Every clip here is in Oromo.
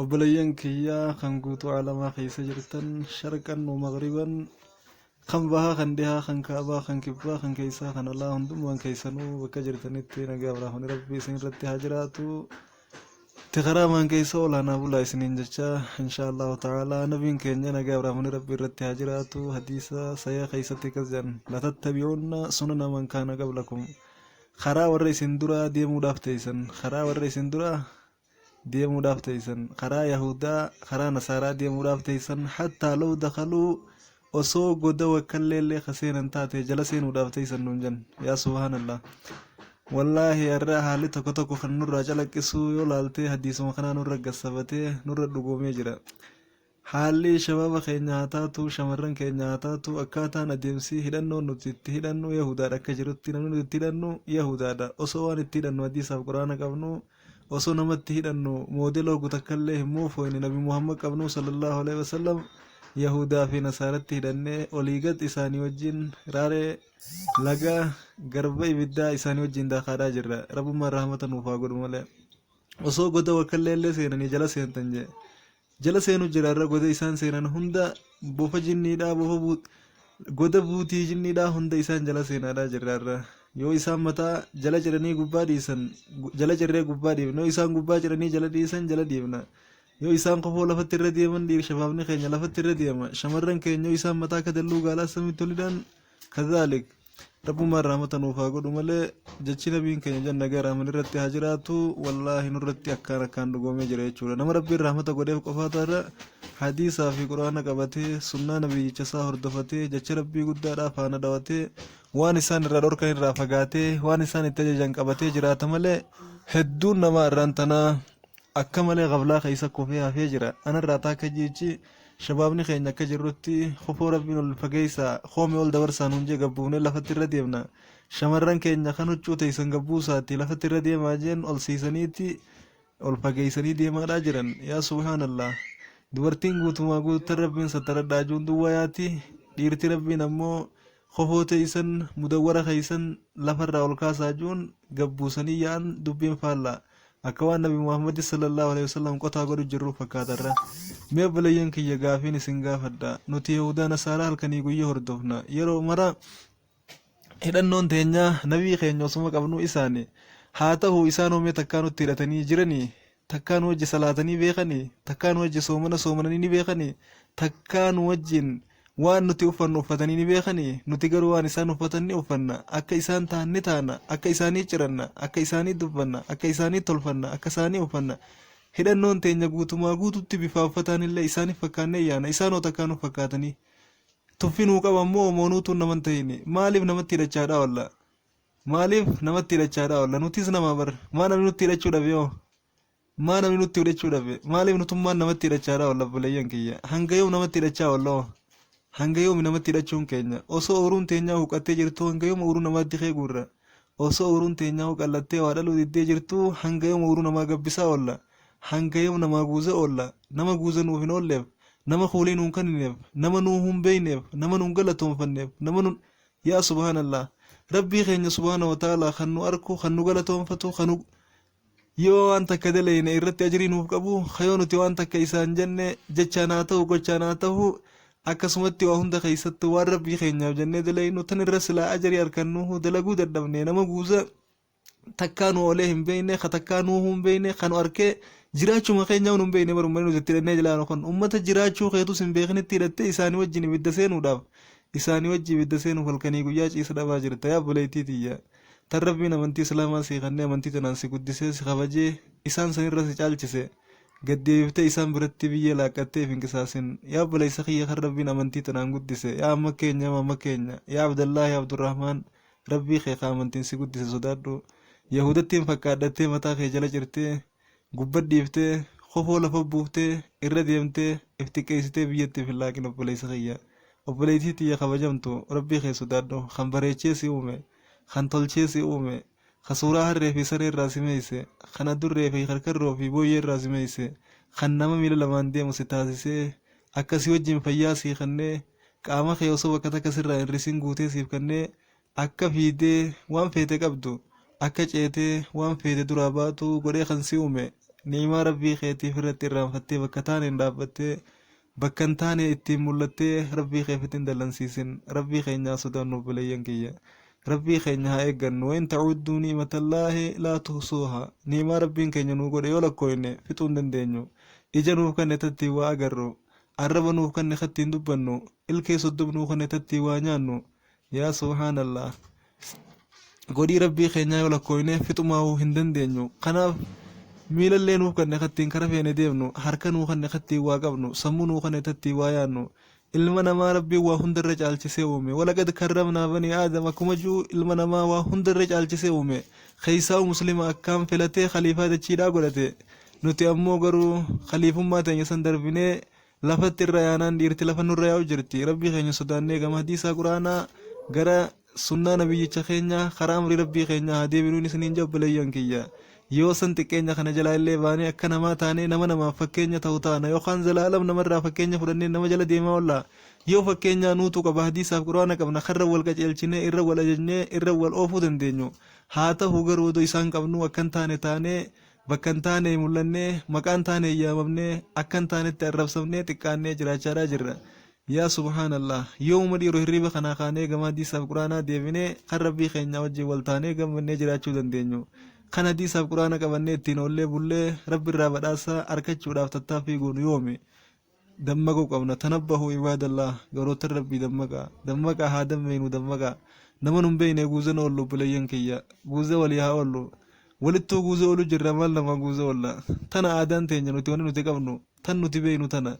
Obboleeyyan kiyya kan guutuu aalamaa keessa jirtan sharqan wa maghriban kan bahaa kan dhihaa kan kaabaa kan kibbaa kan keessaa kan alaa hundummaan keessanuu bakka jirtanitti nagaa biraafani rabbi isin irratti haa jiraatu tikaraamaan keessa olaanaa bulaa isiniin jecha inshaa allahu ta'aalaa nabiin keenya nagaa biraafani rabbi irratti haa jiraatu hadiisa sayaa keessatti akkas jedhan latattabi'uunna sunana man kaana qablakum karaa warra isin duraa deemuudhaaf teeysan karaa warra isin duraa deemuudhaaf teeysan karaa yahudaa karaa nasaaraa deemuudhaaf teeysan hattaa law dakaluu osoo goda wakkallee illee ka seenan taate jala seenuudhaaf teeysan nuun jan yaa subhaanallah wallaahi har'a haalli tokko tokko kan nurraa calaqqisuu yoo laaltee hadiisuma kanaa nurra gassabatee nurra dhugoomee jira Haalli shabaaba keenya haa taatu, shamarran keenya haa taatu, akkaataan adeemsi hidhannoon nuti itti hidhannu Yahudaadha akka jirutti namni nuti itti hidhannu Yahudaadha. Osoo waan itti hidhannu hadiisaaf quraana qabnu, osoo nama itti hidhannu moodela hoggu takkallee hin moofooyne nabi Muhammad qabnu sallallahu aleyhi wa sallam Yahudaa fi Nasaaratti hidhannee olii gad isaanii wajjin raaree laga garba ibiddaa isaanii wajjin daakaadhaa jirra. Rabbummaan rahmata nuuf haa godhu malee. Osoo goda wakkallee illee seenanii jala seentan jee. jala seenu jira irra goda isaan seenan hunda bofa jinniidhaa bofa buut goda buutii jinniidhaa hunda isaan jala seenaadhaa jirra irra yoo isaan mataa jala ciranii gubbaa dhiisan gu- jala cirree gubbaa dhiifna yoo isaan gubbaa ciranii jala dhiisan jala dhiifna yoo isaan kofoo lafatti irra deeman dhiir shabaabni keenya lafatti irra deema shamarran keenya yoo isaan mataa kadalluu gaalaa samitti olidhaan kadhaalik Rabbumaan rahmata nuuf haa godhu malee jechi nabiin keenya jan nagaa rahman irratti haa jiraatu wallaahi nurratti akkaan akkaan dhugoomee jira jechuudha. Nama rabbiin rahmata godheef qofaa taarra hadiisaa fi quraana qabatee sunnaa nabiyyicha isaa hordofatee jecha rabbii guddaadhaa faana dhawatee waan isaan irraa dhorkan irraa fagaatee waan isaan itti ajajan qabatee jiraata malee hedduun namaa irraan tanaa akka malee gaflaa keessa kufee hafee jira. Anarraa taakka jiichi Shabaabni keenya akka jirrutti kofoo Rabbiin ol fageessaa, koomee ol dabarsaa nuun jee gabbuufnee lafatti irra deemna. Shamarran keenya kan huccuu teessan gabbuusaati lafatti irra deemaa jeen ol siisaniiti ol fageessanii deemaadhaa jiran. Yaa subhaanallah. Dubartiin guutumaa guuttan Rabbiin sattaradhaa ajuun duwwaa yaati. Dhiirti Rabbiin ammoo Kofoo teeysan mudawwara keeysan lafa irraa ol kaasaa je'uun gad buusanii yaa'an dubbiin faallaa akka waan nabi muhammadi sallallaahu aleeyhi wasallam qotaa godhu jirruu fakkaata irra. Mee obboleeyyan kiyya gaafiin isin gaafadha nuti yahuudaa nasaaraa halkanii guyya hordofna yeroo mara hidhannoon teenyaa nabii keenya osuma qabnuu isaani haa tahuu isaan hoo mee takkaa nutti hidhatanii jiranii takkaa nu wajji salaatanii beekanii takkaa nu wajji soomana soomananii ni beekanii takkaa nu wajjin waan nuti uffannu uffatanii ni beekanii nuti garuu waan isaan uffatan ni uffanna akka isaan ta'an ni taana akka isaanii ciranna akka isaanii dubbanna akka isaanii tolfanna akka isaanii uffanna hidhannoon teenya guutumaa guututti bifaa uffataan illee isaaniif fakkaannee yaana isaanoo takkaa nuuf fakkaatanii tuffi nuu qaban moo moonuutuun naman ta'ini maaliif namatti hidhachaadhaa wallaa Maaliif namatti hidhachaadha oolla? Nutis nama bar. Maa namni nutti hidhachuu dhabe hoo? Maa namni nutti hidhachuu dhabe? Maaliif nutummaan namatti hidhachaadha oolla obboleeyyan kiyya? Hanga yoom namatti hidhachaa oolla hoo? Hanga yoomi namatti hidhachuun keenya? Osoo ooruun teenyaa huqqattee jirtuu hanga yoom ooruu namaatti kee guurra? Osoo ooruun teenyaa huqqallattee waa dhaluu diddee jirtuu hanga yoom ooruu namaa gabbisaa oolla? Hanga yoom namaa guuza oolla? Nama guuza nuuf hin oolleef, nama kuulii nuun kanineef, nama nuu hun beeyneef, nama nun galatoonfanneef, nama nun... Yaa subhaan Allah Rabbii keenya subhaanahu wa ta'aalaa kan nu arku kan nu galatoonfatu kan yoo waan takka daleyne irratti ajrii nuuf qabu ka yoo nuti waan takka isaan jenne jechaan haa ta'u gochaan haa ta'u akkasumatti waa hunda keessattu waan Rabbii keenyaaf jennee daleynu tan irra silaa ajrii arkannuhu dalaguu dadhabne nama guusa takkaa nu oolee hin beekne ka takkaa nuuhuu hin beekne ka nu arkee jiraachuma keenyaa nu hin beekne bara ummanni nuti itti hidhannee jilaanu kun ummata jiraachuu keetus hin beeknitti hidhattee isaanii wajjin ibidda seenuudhaaf isaanii wajji ibidda seenuuf halkanii guyyaa ciisa dhabaa jirta yaa obboleettii tiyya tan rabbiin amantii islaamaa sii kannee amantii tanaan si guddisee si kabajee isaan sanirra si caalchise gaddeebiftee isaan biratti biyyee laaqqattee hin qisaasin yaa obboleessa kiyya kan rabbiin amantii tanaan guddise yaa amma keenya amma amma keenya yaa abdallaahi abdurrahmaan Rabbii kee ka amantiin si guddise sodaadhu. Yahuudattiin fakkaadhattee mataa kee jala cirtee, gubba dhiiftee, kofoo lafa buuftee, irra deemtee, if xiqqeessitee biyyatti if hin laaqin obboleessa kiyya. Obboleettii tiyya kabajamtu, Rabbii kee sodaadhu, kan bareechee si uume, kan tolchee si uume, ka suuraa harree fi saree irraa si meeyse, kan adurree fi karkarroo fi booyyee irraa si meeyse, kan nama miila lamaan deemu si taasisee, akka si wajjin fayyaa sii kennee, Qaama kee osoo bakka takka sirraa hin risin guutee siif kennee akka fiidee waan feete qabdu akka ceetee waan feete duraa baatu godhee kan si uume ni'imaa rabbii keetiif irratti irraanfattee bakka taaneen dhaabbattee bakka hin taane ittiin mul'attee rabbii keef ittiin dallansiisin rabbii keenya haa sodaannu obboleeyyan kiyya rabbii keenya haa eeggannu wain ta'udduu ni'imatallaahi laa tuhsuuha ni'imaa rabbiin keenya nuu godhe yoo lakkooyne fixuu hin dandeenyu ija nuuf kenne tattiin waa agarru Arraba nuuf kenne kattiin dubbannu Ilkee soddom nuu kenne tattii waa nyaannu Yaa subhaanallaah Godhii rabbii keenyaa yoo lakkooyne fixumaahuu hin dandeenyu Kanaaf miilallee nuuf kenne kattiin kara feene deemnu Harka nuu kenne kattiin waa qabnu Sammuu nuu kenne tattiin waa yaannu Ilma namaa rabbiin waa hundarra caalchisee uume Walaqad karramnaa banii aadam akkuma ji'u ilma namaa waa hundarra caalchisee uume Keessaahuu muslima akkaan filatee khaliifaa dachiidhaa godhate Nuti ammoo garuu khaliifummaa teenya san darbinee lafatti irra yaanaan dhiirti lafa nurra yaa'u jirti. Rabbii keenya sodaannee gama hadiisaa quraanaa gara sunnaa nabiyyicha keenya karaa amrii rabbii keenyaa haa deebinuun isiniin jedha obboleeyyan kiyya. Yoo san xiqqeenya kana jalaa illee baanee akka namaa taanee nama namaaf fakkeenya ta'u taana yookaan zalaalam namarraa fakkeenya fudhannee nama jala deemaa oolla. Yoo fakkeenyaa nuutu qaba hadiisaaf quraana qabna karra wal qaceelchinee irra wal ajajnee irra wal oofuu dandeenyu. Haa tahu garuu odoo isaan qabnuu akkan taane taanee Bakka hin taane mul'annee, maqaa hin taaneen yaamamnee, akka hin taanetti arrabsamnee, xiqqaannee jiraachaadhaa jirra. Yaa subhaanallaah! Yoomuma dhiiru hirriiba kanaa kaanee gama hadiisaaf qur'aanaa deebinee kan Rabbii keenyaa wajjin wal taanee gammannee jiraachuu dandeenyu? Kan hadiisaaf qur'aana qabannee ittiin oollee bullee Rabbirraa badhaasa arkachuudhaaf tattaaffii goonu yoomi? dammaquu qabna tanabbahu ibaadallah garoottan rabbii dammaqaa dammaqaa haa dammeynu dammaqaa nama nun beeyne guuzan oollu obboleeyyan kiyya guuza walii haa oollu walittuu guuza oolu jirra maal namaa guuza oolla tana aadaan teenya nuti wani nuti qabnu tan nuti beeynu tana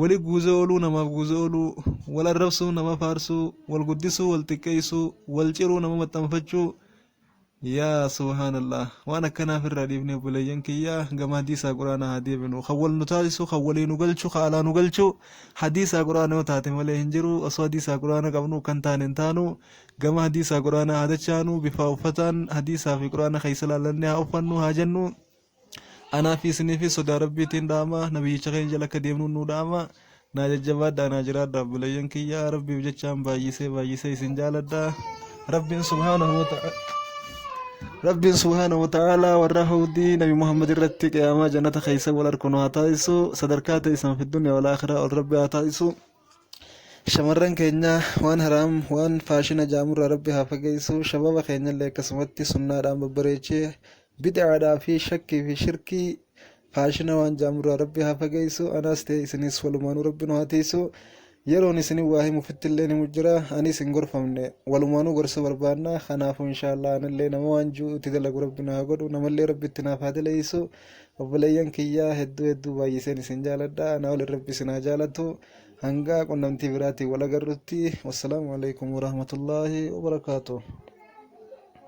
wali guuza ooluu namaaf guuza ooluu wal arrabsuu nama faarsuu wal guddisuu wal xiqqeeysuu wal ciruu nama maxxanfachuu Yaa subhaanallah waan akkanaa firraa dhiifnee obboleeyyan kiyya gama hadiisaa quraanaa haa deebinu kan wal nu taasisu kan walii nu galchu kan alaa nu galchu hadiisaa quraana yoo taate malee hin jiru osoo hadiisaa quraana qabnu kan taane hin taanu gama hadiisaa quraanaa haa dachaanu bifaa uffataan hadiisaa fi quraana keessa laallanne haa uffannu haa jennu Anaa fi isiniifis sodaa Rabbiitiin dhaama, Nabiyyicha keenya jala akka deemnuun nuu dhaama. Naa jajjabaadhaa, naa jiraadhaa obboleeyyan kiyya. Rabbiif jechaan baay'isee baay'isee isin jaaladha. Rabbiin subhaanahu wa ta'ala Rabbiin subhaanahu wa ta'ala warra hawdii Nabi Muhammad irratti qiyaamaa jannata keessa wal arku nu haa taasisu. Sadarkaa teessan fi dunya wal akhiraa ol Rabbi haa taasisu. Shamarran keenya waan haraam waan faashina jaamurraa rabbi haa fageessu shababa keenyallee akkasumatti sunnaadhaan babbareechee bid'aadhaa fi shakkii fi shirkii faashina waan jaamurraa rabbi haa fageessu anaas ta'e isinis walumaanuu rabbi nu haa teessu yeroon isin waa himu fittillee himu jira anis hin gorfamne walumaanuu gorsa barbaanna kanaafuu inshaallah anillee nama waan jiru itti dalagu rabbi na haa godhu namallee rabbi itti naaf haa daleessu Obboleeyyan kiyya hedduu hedduu baay'iseen isin jaaladha. Anaa ol rabbi isin haa jaalatu. Hangaa qunnamtii biraatiin wal agarrutti. Wassalaamu alaikum warahmatullaahi wabarakaatuh.